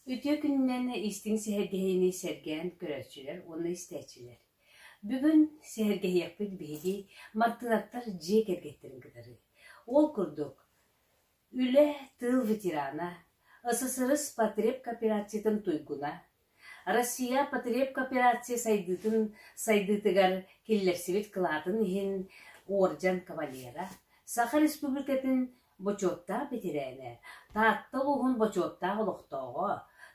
Үтүө күнүнэн истиҥ сэһэргэһиини сэргээн көрөөччүлэр уонна истээччилэр. Бүгүн сэһэргэһиэхпит биһиги Мартыынаттар дьиэ кэргэттэрин кытары. Ол курдук, Үлэ, тыыл ветерана, ССРС потребкооперациятын туйгуна, Россия потребкооперация сайдыытын сайдыытыгар киллэрсибит кылаатын иһин уордьан кавалера, Саха Республикатын бочуоттаах бэтэрээнэ, Таатта улууһун бочуоттаах олохтооҕо,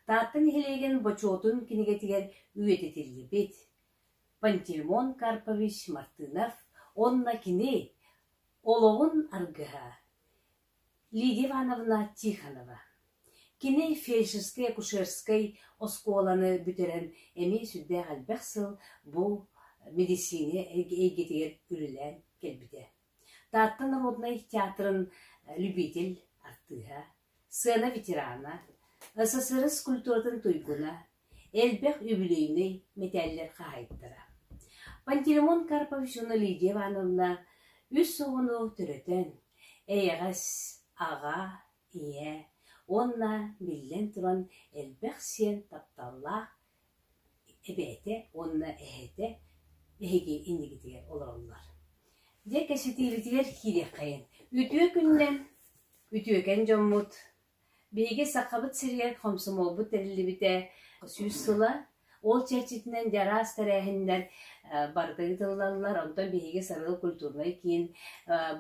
Таатта нэһилиэгин бочуотун кинигэтигэр үйэтитиллибит Пантелеймон Карпович Мартынов уонна кини олоҕун аргыһа Лидия Ивановна Тихонова. Кини фельдшерскай-акушерскай оскуоланы бүтэрэн эмиэ сүрдээх элбэх сыл бу мэдиссиинэ эйгэтигэр үлэлээн кэлбитэ. Таатта народнай театрын любитель артыыһа, сыана ветерана, СССР культуратын туйгуна, элбэх үбүлүөйнэй мэтээллэр хаһаайыттара Пантелеймон Карповичевна Лидия Ивановна үс оҕону төрөтөн, эйэҕэс аҕа, ийэ уонна, биллэн туран, элбэх сиэн тапталлаах эбээтэ уонна эһэтэ эһиги иннигитигэр олороллор. Дьэ, кэпсэтиибитигэр киириэххэйин. Үтүө күннэн, үтүөкэн дьоммут, Биһиги Сахабыт сиригэр хомсомуолбут тэриллибитэ сүүс сыла. Ол чэрчитинэн араас тэрээһиннэр барыта ыытыллаллар. Онтон биһиги Сарыал культурнай киин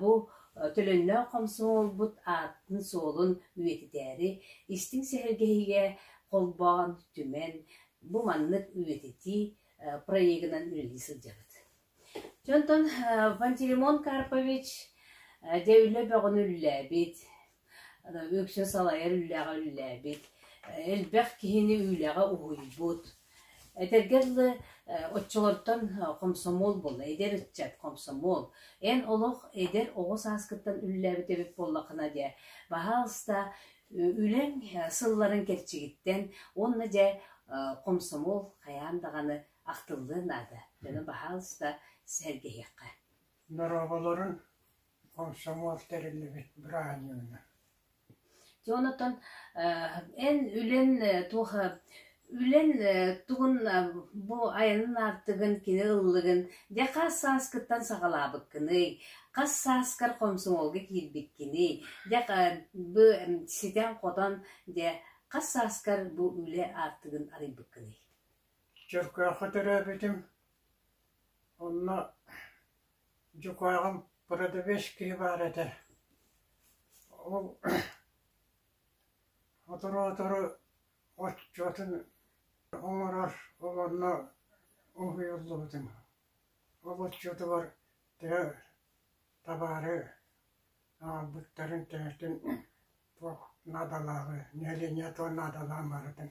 бу төлөннөөх хомсомуолбут аатын-суолун үйэтитээри истиҥ сэһэргэһиигэ холбоон, түмэн, бу маннык үйэтитии проегынан үлэлии сылдьабыт. Дьэ онтон Пантелеймон Карпович дьэ үлэ бөҕөнү үллээбит, үксэ салайар үлэҕэ үллээбит, элбэх киһини үлэҕэ уһуйбут. Этэргэ дылы оччолортон хомсомуол буолла, эдэр ыччат хомсомуол. Эн олох эдэр оҕо сааскыттан үллээбит эбит буоллаххына дьэ, баһаалыста үлэҥ сылларын кэрчигиттэн уонна дьэ хомсомуол хайаан даҕаны ахтыллыан наада, дьону баһаалыста сэһэргэһиэххэ Дорооболорун комсомол тэриллибит бырааһынньыгынан. Дьэ онтон эн үлэн туох үлэн тугун бу айанын аартыгын кини ыллыгын дьэ хас сааскыттан саҕалаабыккыный хас сааскар комсомолга киирбиккиний дьэ бу ситэн хотон дьэ хас сааскар бу үлэ аартыгын арыйбыккыный Чөркөөххө төрөөбүтүм, онно дьукааҕым продавец киһи баар этэ, ол сотору-сотору оччотун оҥорор, ол онно уһуйуллубутум. Ол оччотугар тыа табаары аҕалбыттарын тэҥэтин туох наадалааҕы, нэилиэнньэ туох наадалааҕын барытын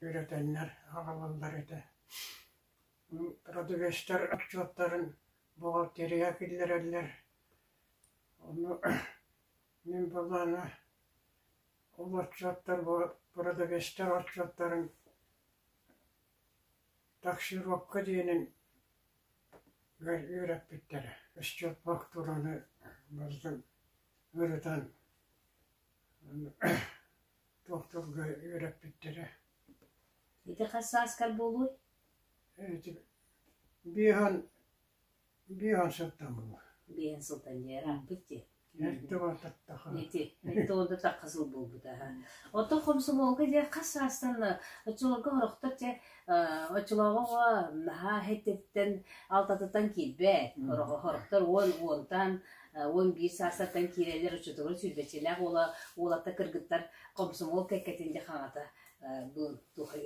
үөрэтэннэр аҕалаллар этэ радовестар отчуоттарын бухгалтерия киллэрэллэр ону мин былаана ол отчуоттар бу продовестар отчуоттарын таксировка диэнин үөрэппиттэрэ счет фактураны ырытан Тохторго үөрэппиттэрэ Ити хас сааскар буолуой? эти биир уон биир уон сылтамыҥ Биэһин сылтан дьиэр аахпыт дии. эрдэ бататтаха Ити, ити онно тахха сыл буолбута аха. Ото хомсомуолга дьэ хас саастан оччолорго орохтор дьэ э, оччолооҕу наһаа хэтиттэн алтатыттан киирбэт. Орох- Орохтор уон уонтан уон биир саастартан киирэллэр оччотугар сүүрбэччэлээх уола уолата кыргыттар комсомол кэккэтин де хаҥата бу туха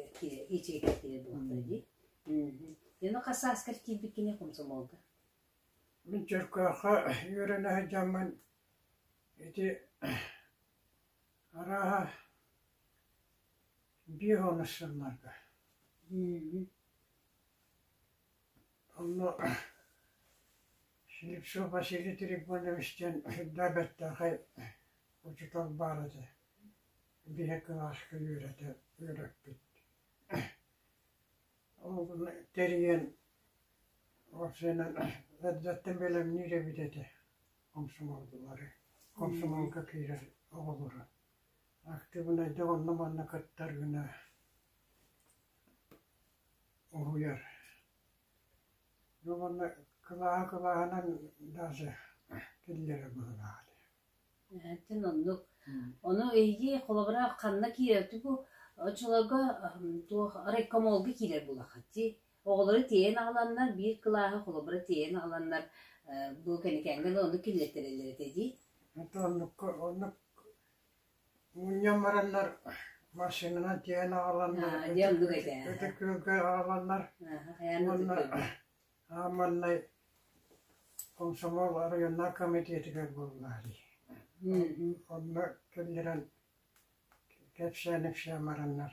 ичигэ кире булуктар ди Яно хасааскар киирбит кини комсомолга Мен Черкаха үөрэнэ сылдьаммын ити арааһа биир он сылларга Онно Слепцов Василий Трифонович диэн сырдаа бэртээхэй учуутал баар этэ, биһи кылааска үөрэтэ үөрэппит. Ол гынна тэрийэн уопсайынан эрдэттэн бэлэмниир эбит этэ комсомоллары, комсомолга киирэр оҕолору. Актыыбынайдык онно-манна кыттаргына уһуйар. Ну уонна кылааһы-кылааһынан даже киллэрэр быһыылаах ини. Эһэтин оннук. Ону эйиги холобура ханна киирэрти бу очолорго туох райкомолга киирэр булахати. Оҕолору тиэйэн аҕаланнар биир кылааһы холобура тиэйэн аҕаланнар бу кэникэҥгэ да ону киллэртэрэллэр этэ дии. Это оннукка оннук Мунньан бараннар машинанан тиэйэн аҕаланнар Аа, диэн бу эбээ. Ити күөлгэ аҕаланнар Айаан уонна аа, маннай комсомол районнар комитетигэр буолла дии. Онно киллэрэн кэпсээн-ипсээн бараннар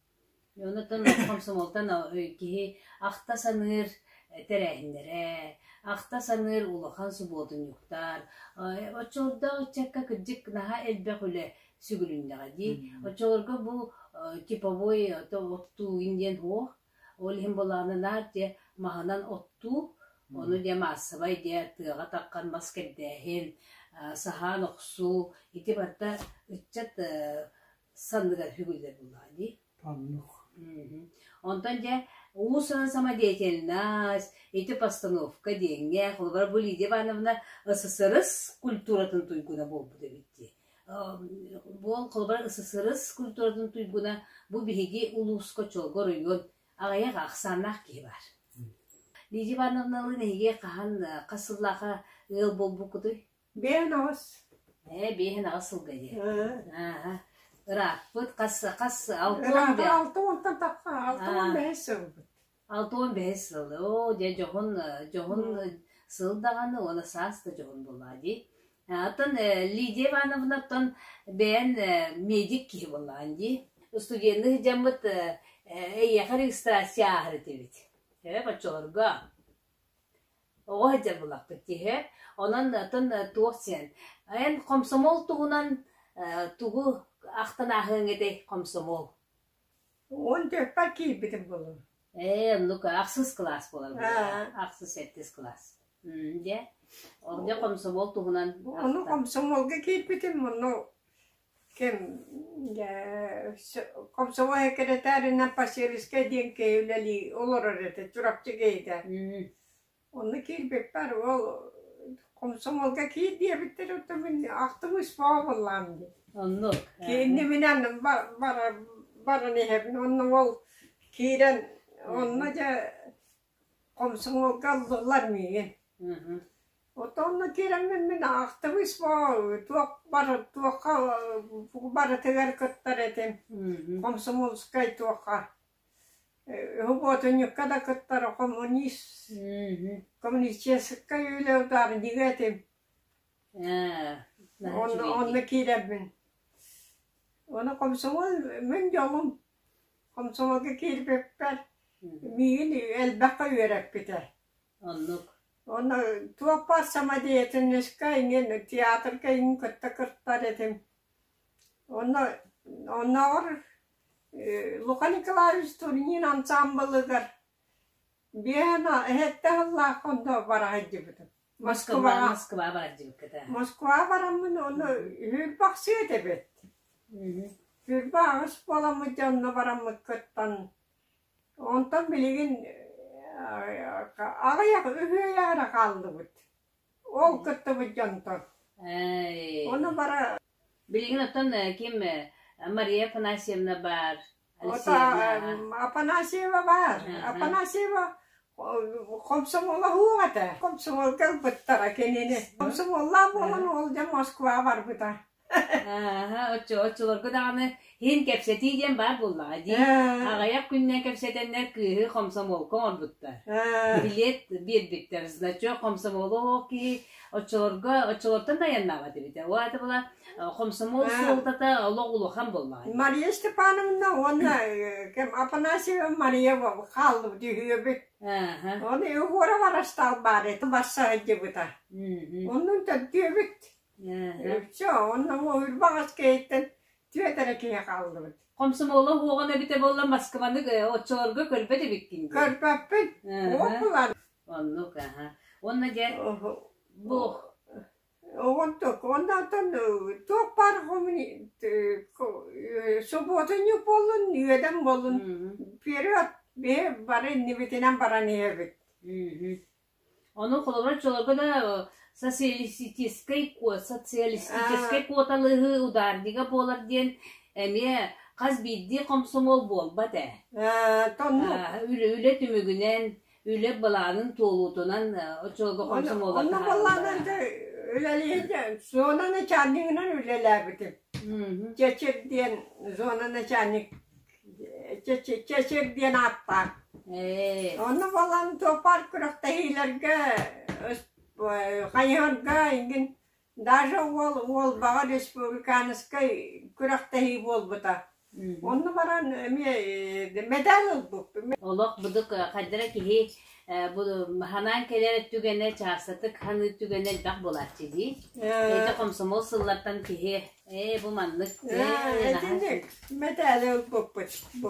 Онтон хомсомуолтан киһи ахта саныыр тэрээһиннэрэ, ахта саныыр улахан субуотунньуктар, оччолордоох ыччакка кырдьык наһаа элбэх үлэ сүгүрүннэҕэ дии. Оччолорго бу типовой оттуугун диэн суох, ол иһин былааны наар дьэ маһынан оттуу, ону дьэ маассабай дьэ тыаҕа таххан мас кэрдээһин, саһаан охсуу, ити барыта ыччат санныгар хүгүллэр буллаа дии. Оннук. Онтон дьэ уусуна самодеятельность, ити постановка диэҥҥэ, холобура бу Лидия Ивановна ССРС культуратын туйгуна буолбут эбит дии. Буол холобура ССРС культуратын туйгуна бу биһиги улууска чолго оройуон аҕыйах ахсааннаах киһи бар. Лидия Ивановна ылын эһиги хаһан хас сыллааха ыал буолбуккутуй? Биэһин аҕыс. Ээ, биэһин аҕыс сылга диэн. Ааһа. Ырааппыт, хас, хас, алта уон Ыраатан бэс. алта уонтан тахха, алта уон бэһис сыл. Алта уон бэһис сыл. Оо, дьэ, дьоһун, дьоһун сыл даҕаны, уола саас да дьоһун буолаа дии. Оттон Лидия Ивановнаттан бэйэн медик киһи буолаан дии. Студенный сыдьаммыт эйиэхэ регистрация ааһар этибит. Ээ, боччолорго. Оҕо сылдьар буоллахпыт киһи, онон оттон туох диэн, эн хомсомол туһунан тугу ахтан ааһыаҥ этэй, хомсомол? Он төрпө киирбитим булум. Ээ, ну-ка, ахсыс кылаас буолар бу. Ахсыс, сэттис кылаас. Дьэ, ордук хомсомол туһунан. Ону хомсомолга киирбитим, ону Кэмгэ комсомол секретарынан посельскай диэн киһи үлэлии олорор этэ Чурапчы киһитэ. Онно киирбиппэр ол комсомолга киир диэбиттэр оттон мин ахтымыыс буоллаам дии. Оннук. Киинни минэн баран иһэбин онно ол киирэн онно дьэ Комсомолга ыллылар миигин. Оттонно киирэммин мин аахтыбыс бу туох бары туохха тугу барытыгар кыттар этим. Комсомольскай туохха. Уботунньукка да кыттара коммунист. Коммунистическай үлэ ударнига этим. Онно киирэммин. Оны комсомол мин дьолум Хомсомолго киирбиппэр миигин элбэххэ үөрэппитэ. Оннук. Онно Туоппар самодеятельнайскай иҥин, театрга иҥин кытта кыттар этим. Онно оннооҕор Лука Николаевич Турнин ансаамбылыгар биэһэ эһэтэ аһыллаах хонно бара сылдьыбытым. Москваҕа Москваҕа барар дьыбыккыта. Москваҕа бараммын ону Сүүрбахсыйа эбит. Сүүрбэ аҕыс буоламмыт дьонно бараммыт кыттан онтон билигин аҕыйах үһүөйэ эрэ хааллыбыт. Ол кыттыбыт дьонтон. Оны бара Билигин оттон ким Мария Афанасьевна бар, Ota Апанасьева баар. Апанасьева комсомолаһыах этэ. Комсомол кэлбиттара кинини. Комсомоллаах буолан ол дьэ Москваҕа барбыта. Оччолорго даҕаны һин кэпсэтии диэн баар буоллаҕа дии. Аҕыйах күннэн кэпсэтэннэр кыыһы комсомолка оҥорбуттар. Билет биэрбиттэр. Значок комсомолу оһох киһи Оччолорго оччолортон да айаннаабат эбитэ. Ол аата была хомсомол суолтата олох улахан болмаҕа. Мария Степановна уонна кем Апанасьева Мария хааллыбыт үһүөбүт. Оны Егорова растал бар это басса дебыта. Оннун төрдүөбүт. Все, оннун үрбаҕас кээттен түөтэрэ киһи хааллыбыт. Комсомола хуоҕан эбите болла Москваны оччолорго көрбөт эбиккин. Көрбөппүн. Ол булар. Оннук, аһа. Уонна дьэ, бу Онтук, оннантан туох баар субуотунньук буоллун, үөдэн буоллун период бары иннибитинэн баран иһэбит. Ону холобур чолорго да социалистическай куот, социалистическай куоталыһы ударнига буолар диэн эмиэ хас биирдии хомсомол буолбат ээ. Үлэ түмүгүнэн үлэ былаанын туолуутунан оччолорго комсомола Онно былаанын үлэлиир зона начальнигынан үлэлээбитим. Чэчир диэн зона начальник Чэчир диэн ааттаах. Онно балан зоопарк күрэхтэһиилэргэ хайыһарга иҥин Даша уол Уолбаҕа республиканскай күрэхтэһии буолбута. Онно баран эмиэ медаль ылбыппын. Олох будук хайдара киһи бу ханаан кэлэр түгэнэ чаастатык ханыы түгэнэ элбэх буолааччы дии. Эдэ комсомол сыллартан киһи ээ бу маннык Итинник медали ылбыппыт бу.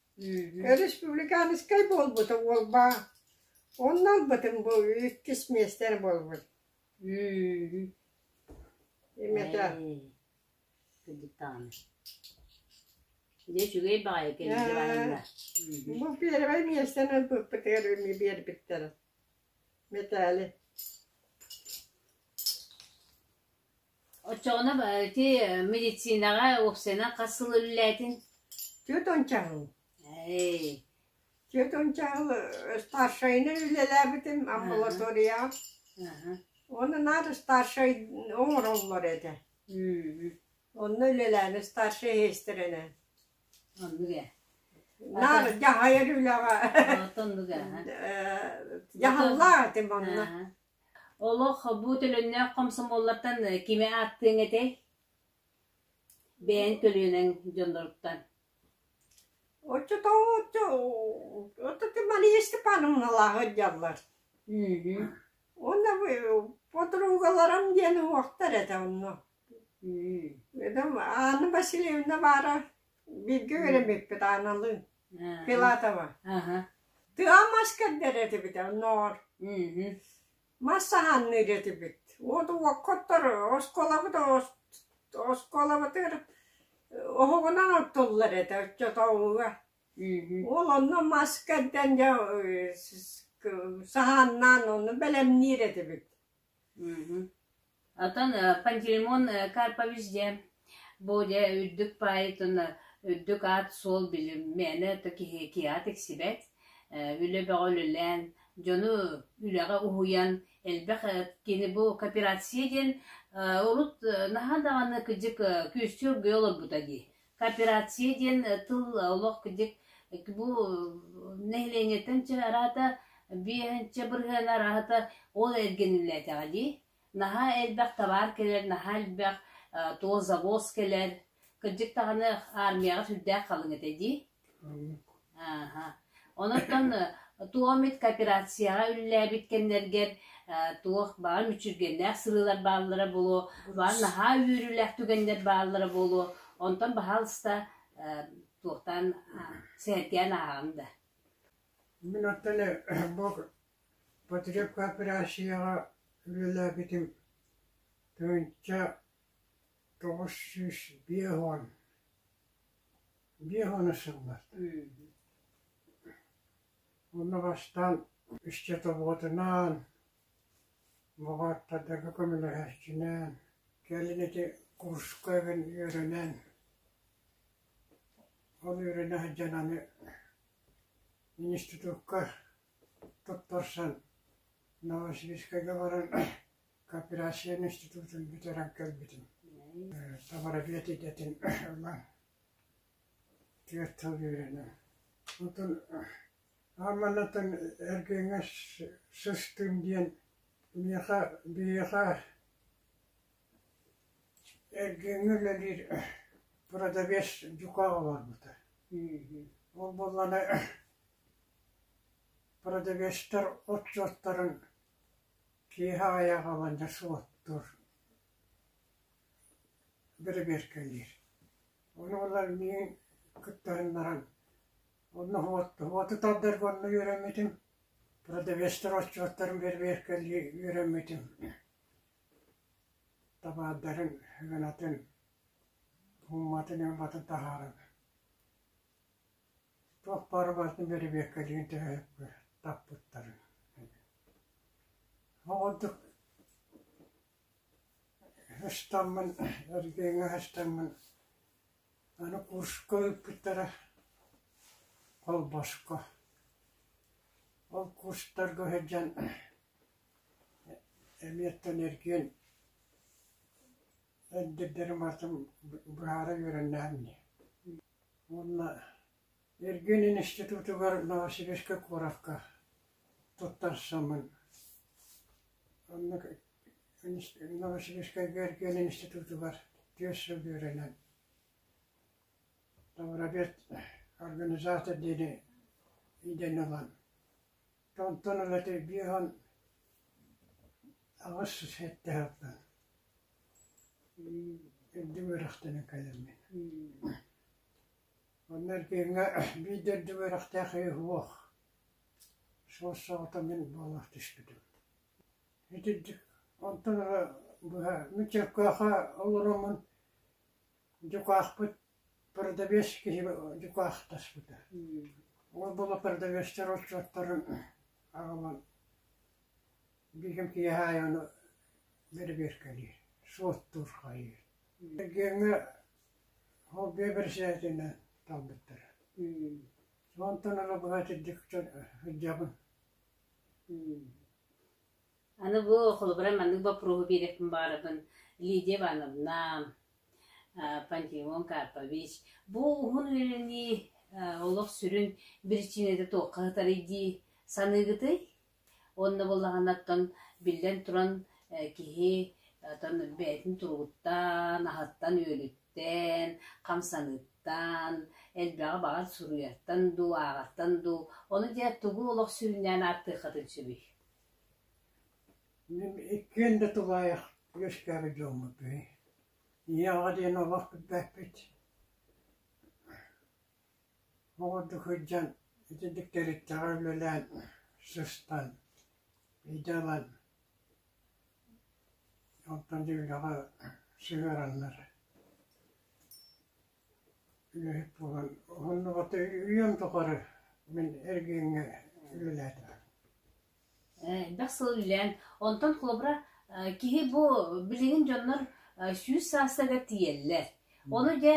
Өрөспубликанскай буолбута уолбаа, онно ылбытым бу иккис миэстэ буолбут Имата Бу первый миэстэн ылбыппытыгар эмиэ биэрбиттэрэ Мэтээли Оччоҕуна ити медицинаҕа уопсайынан хас сыл үлэлээтиҥ? Түөрт уончаҕыл. Ээй. Түөрт уончаҕыл старшайынан үлэлээбитим амбулаторияҕа. Уонна наар старшай оҥороллор этэ. Онно үлэлээнэ старшай иһэстэрэнэ. Оннук ээ. Наар дьаһайар үлэҕэ. Оттон оннук ээ. Дьаһаллаах этим онно. Олох бу төлөннөөх комсомоллартан кими ааттыаҥ этэй? Бэйэҥ төлүөнэҥ дьонноруттан. Оччотооҕу вот эти Мария Степановналааҕы дьаллар. Мм. Уонна подругаларым диэн уҥуохтар этэ онно. Мм. Эдem Анна Васильевна баара бииргэ үөрэммиппит Аналыын. Филатова. Тыал мас кэрдэр этибит онноор. Мас саһанныыр этибит. Уот уоккоттор осколабыт осколабытыр оһоҕунан оттуллар этэ оччотооҕуга. Ол онно мас кэрдэн дьэ саһааннаан ону бэлэмниир этибит. Оттон Пантелеймон Карпович диэн бу дьэ үрдүк поэтун үрдүк аат-суол билим мээнэ да киһи киэһэ тиксибэт үлэ бөҕө үлэлээн дьону үлэҕэ уһуйан элбэх кини бу кооперация диэн урут наһаа даҕаны кыдьык күүстүү оргуйа олорбута дии кооперация диэн тыл олох дик бу нэһилиэнньэттэн чэ араата биэһэнчэ бырыһыан араата ол эргиниллээтэҕэ дии наһаа элбэх табаар кэлэр наһаа элбэх туох завоз кэлэр кырдьык даҕаны армияҕа сүрдээх халыҥ этэ дии Онон туомит кооперацияҕа үлэлээбит кэмнэргэр туох баҕа мүччүргэннээх сырыылар бааллара буолуо, баҕа наһаа үөрүүлээх түгэннэр бааллара буолуо. Онтон баһаалыста туохтаан сэһэргээн ааҕаҥ да. Мин оттон бу потреб кооперацияҕа үлэлээбитим тыһыынча тоҕус сүүс биэс уон Биир уон сыллар уонна бастаан иччи тобоҕотунаан, баҕааттардарга көмөлөһөөччүнээн, кэлин ити курска үөрэнэн, ол үөрэнэ сылдьан аны институкка туттарсан Новосибирскайга баран Кооперация институтун бүтэрэн кэлбитим. Табарабиат идэтин ылан түөрт сыл үөрэнэн. Онтон аа маннатан эргэҥҥэ сыстым диэн миэхэ биһиэхэ эргэҥҥэ үлэлиир продавец дьукаах олорбута. Ол буоллана продавецтар от-суоттарын Киэһэ айаҕа олордо суоттуур, бэрэбиэркэлиир. Ону ылар миин кыттыһан баран, онно уоту тардарга онно үөрэммитим, продавецтар отчуоттарын бэрэбиэркэлии үөрэммитим. Табаардарын гынатын, уумматын-ньылбатын таһааран Туох баара барытын бэрэбиэркэлиир да таппыттарын Ол ордук ыстаммын, эргиэҥҥэ ыстаммын аны курска ыыппыттара холбоско. Ол курстарга сылдьан эмиэттэн эргиэн эдэрдэрим аатын быһаара үөрэннэҕим ини уонна Эргиэнин институтугар Новосибирскай куоракка туттарсаммын онно Новосибирскайга Эргиэнин институтугар түөрт сыл үөрэнэн Тавробет организатор диэни идэнэ ылан Онтон эбэтэр биир уон аҕыс сэттэ сылтан үрдүм үөрэхтэнэн кэллим мин. Онно эргиҥҥэ биир да үрдүм үөрэхтээх киһи суох. Суос саҕата мин буолах түспүтүм. Итирдик онтон ыла быһа мин Чөркөөхө олороммун дьукаахпыт Продавец киһи дьукаахтаспыта, ол буола продавецтар отчуоттарын аҕалан бииргэм киэһэ аайы ону бэрэбиэркэлиир, суоттуур хаайыыр. Эргиэҥҥэ хобби бэрэсэдээтинэн талбыттара. Онтон ыла быһа итирдик сылдьабын. Аны бу холобура маннык боппуруоһу биэриэхпин баҕарабын Лидия Ивановна, Пантелеймон Карпович, бу уһун үөрэнии олох сүрүн биричиинэтэ туохха сытарый дии саныыгытый? Уонна буоллаҕына оттон биллэн туран киһи оттон бэйэтин туругуттан, аһыттан, үөлүттэн, хамсаныыттан, элбэҕи баҕар суруйартан дуу, ааҕартан дуу, ону диэн тугу олох сүрүннээн ааттыаххытын сөбүй? Мин иккиэн да тулаайах үөскээбит дьоммутуй. Ийэҕэ диэн олох билбэппит. Ол курдук сылдьан итинник тэрилтэҕэ үлэлээн, сыстан, идэ ылан, онтон дьиэлэҕэ сыһыараннар үлэһит буолан уһуннугата үйэм тухары мин эргииҥҥэ үлэлээтим Элбэх сыл үлээн онтон холобура киһи бу билигин дьоннор сүүс саастарыгар тиийэллэр. Ону дьэ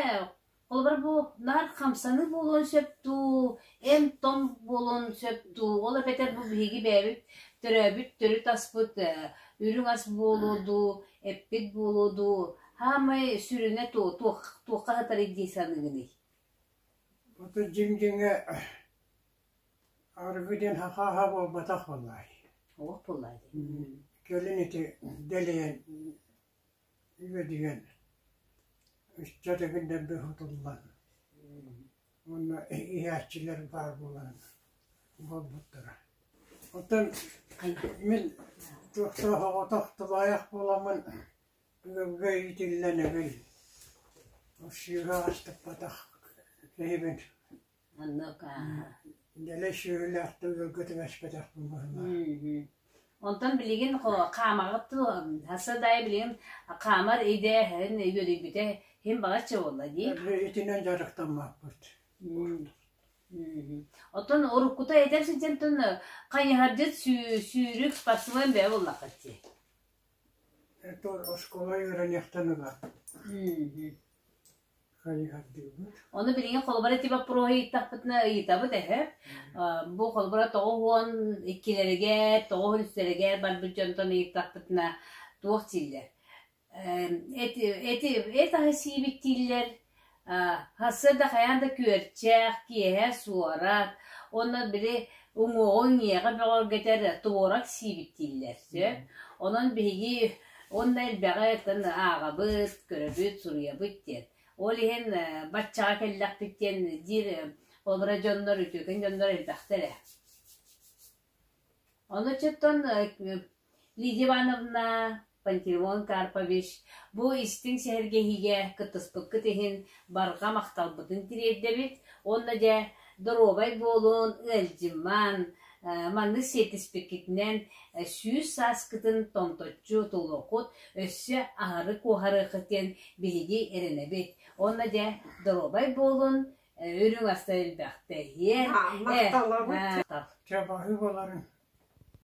холобура бу наар хамсаныы буолуон сөп дуу эн-том буолуон сөп дуу, ол эбэтэр бу биһиги бэйэбит төрөөбүт төрүт аспыт үрүҥ ас буолуо дуу, эппит буолуо дуу, саамай сүрүнэ туо, туох, туохха сытарый дии саныыгыный? Ото дьиҥ-дьиҥэ арыгы диэн хахааһа буолбатах буоллаай. Олох буоллаай дии. Кэлин ити дэлэйэн үөдүйэн ычча дэгиннэрбэ хутуллан уонна иһээччилэр баар буолан буолбуттара. Оттон мин туохтаах оҕото тулаайах буоламмын бүгүҥҥэ иитиллэнэбин. Сыыһа астыппатах киһибин. Оннук ааха. Дэлэ сүөһүлээхтик ыалга түбэспэтэхпин быһына. Онтон билигин хаамаҕыт дуо? Сарсыардайы билигин хаамар идээһин үөдүйбүтэ иһин баҕаччы буолла дии. Итинэн дьарыктаммаппыт. Оттон уруккута этэр сылдьан хайыһардьыт сүүрүк спортсмен бэйэ буллаххыт дии. Оскуола үөрэниэхтэн ыла. Ону билигин холобура ити боппуруоһу ыйыттахпытына ыйытабыт эһэ. Бу холобура тоҕус уон иккилэригэр, тоҕус үстэригэр барбыт дьонтон ыйыттахпытына туох дииллэр? Эти эти эт аһы сиибиттииллэр. Сарсыарда хайаан да күөрчэх, киэһэ суорат, онно били уҥуоҕу иҥиэҕэ бөҕөргөтөр туорак сиибиттииллэр. Сөп. Онон биһиги Уонна элбэҕи тан ааҕабыт, көрөбүт, суруйабыт диэн. Ол иһин баччаҕа кэллэхпит диэн диир олоро дьоннор, үтүөкэн дьоннор элбэхтэр ээ. Ону чуттан Лидия Ивановна Пантелеймон Карпович бу истиҥ сэһэргэһиигэ кыттыспыккыт иһин барҕа махталбытын тириэрдэбит уонна дьэ доруобай буолун, ыалдьымман, Манны сиэттиспиккитинэн сүүс сааскытын томточчу тулуоххут, өссө аһары куоһарыаххыт диэн биһиги эрэнэбит. Уонна дьэ, доруобай буолун, үрүҥ аста элбэхтэ иһиэ. Махталабыт. Чабаһы боларын.